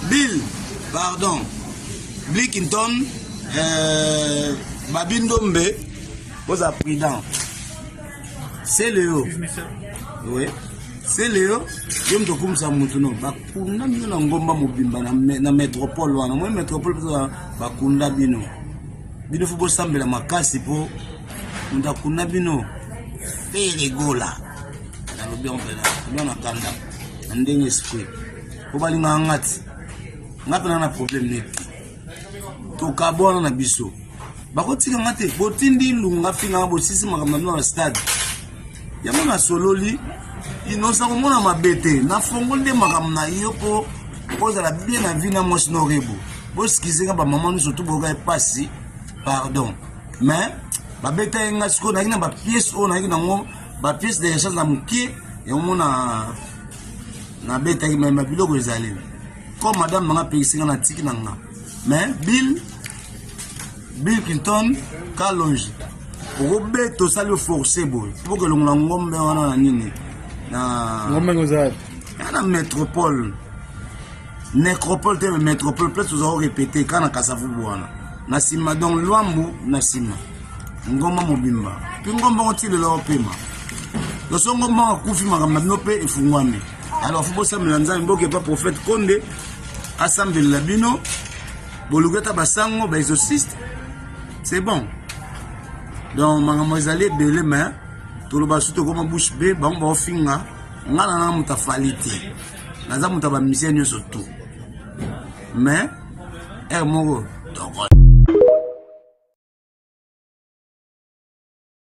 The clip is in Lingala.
Bill, pardon. Blickinton, euh, Babindombe, vous êtes prudent. C'est Léo. Oui. C'est Léo. Yo mto kumsa mutu no bakunda bino na ngomba mobimba na, me, na metropole wana moi metropole mpenza bakunda bino bino fo bosambela makasi mpo moto akunda bino mpe elegola nalobi yango mpenza bino na kanda na ndenge esprit po balingaka nga ti nga mpe na na problème neti tokabwana na biso bakotika nga te botindi lunga finganga bosisi makambo na bino na stade yango nasololi inosa komona mabe te nafongoli nde makambo na yo mpo ozala bien na vie na mwasi na orebo boskize nga bamama nyonso to boyoka epasi pardon mais babeta ye nga sikoyo nayaki na bapiese oyo nayaki nango ba pièce de rechange na moke yango mona nabetaki me ma biloko ezali comme madame nanga apekisi nga na tiki na nga mais bill bill clinton kalonge okobeta osali oforce boye poke elongola ngombe wana na nini na ngombe ngozali na metropole necropole te metropole place oza korepete kaka na kasavubu wana na nsima donc lwambu na nsima ngomba mobimba mpe ngomba ngo ti lelo opema loso ngomba akufi makambo na bino mpe efungwami alors fo bosambela nzambe bokepa prophète konde asambelela bino boluki ata basango baexorciste c'est bon donc makambo ezali ebele mais toloba su tokoma bouche be bango baofinga ngai na nanga moto afali te naza moto ya bamusicien nyonso tout mais ere eh, moko toko